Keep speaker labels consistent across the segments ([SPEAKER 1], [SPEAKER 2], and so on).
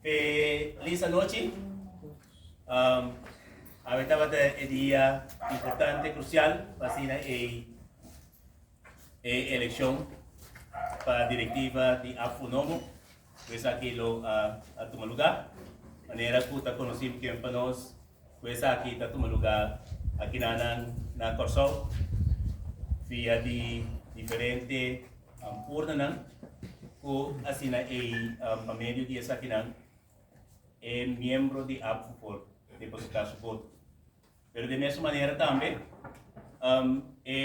[SPEAKER 1] Pe Liz anochi, awe tabata e dia importante, crucial pa asina ei e eleccion pa directiva di Affunomo cu esaki lo a tuma lugar. Manera cu ta conoci beken pa nos. Cu esaki ta tuma luga akinanan na Corsou via di diferente urnanan cu asina ei pa medio di esakinan e miembro di APFU por deposita su voto. Pero di mesun manera tambe e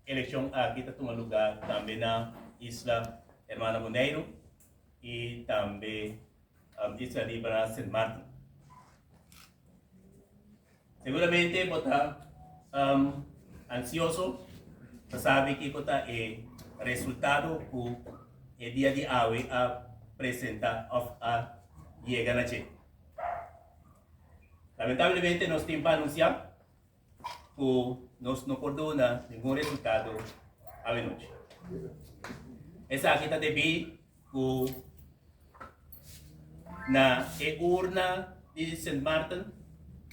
[SPEAKER 1] eleccion aki ta tuma luga tambe na isla Hermana Boneiru y tambe A bisa riba na Sint Maarten. Seguramente bo ta um, ansioso pa sabi kiko ta e resultado ku e dia di awe a presenta of a yega na che. Lamentablemente nos tin pa anunsia ku nos no por duna ningun resultado awenochi. Esaki ta debí ku na e urna di Sint Maarten,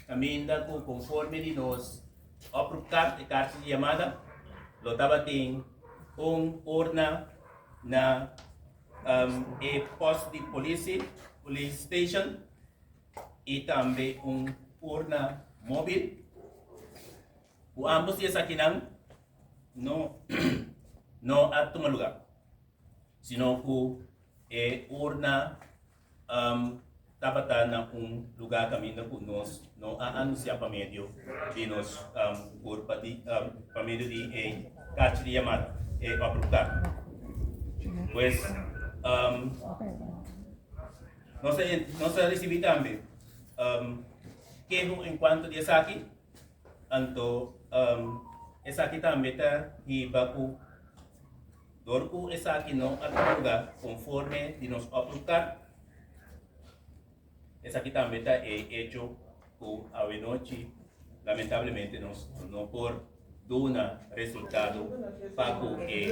[SPEAKER 1] kaminda ku konforme di nos oproepkaart, e karta di yamada, lo tabatin un urna na e pos di polisi, police station, y tambe un urna mobil. Cu ambos di esakinan no, no a tuma lugar, sino cu e urna um, tabata na un lugar caminda cu nos no a anuncia pa medio di nos um, curpa di, um, pa medio di e cachi di llamada, e oprocar. Pues, um, Nos a risibi tambe keho en cuanto di esaki, anto esaki tambe ta hiba cu dor cu esaki no a tranga conforme di nos oproep car, esaki tambe ta e hecho cu awenochi lamentablemente nos no por duna resultado pa cu e.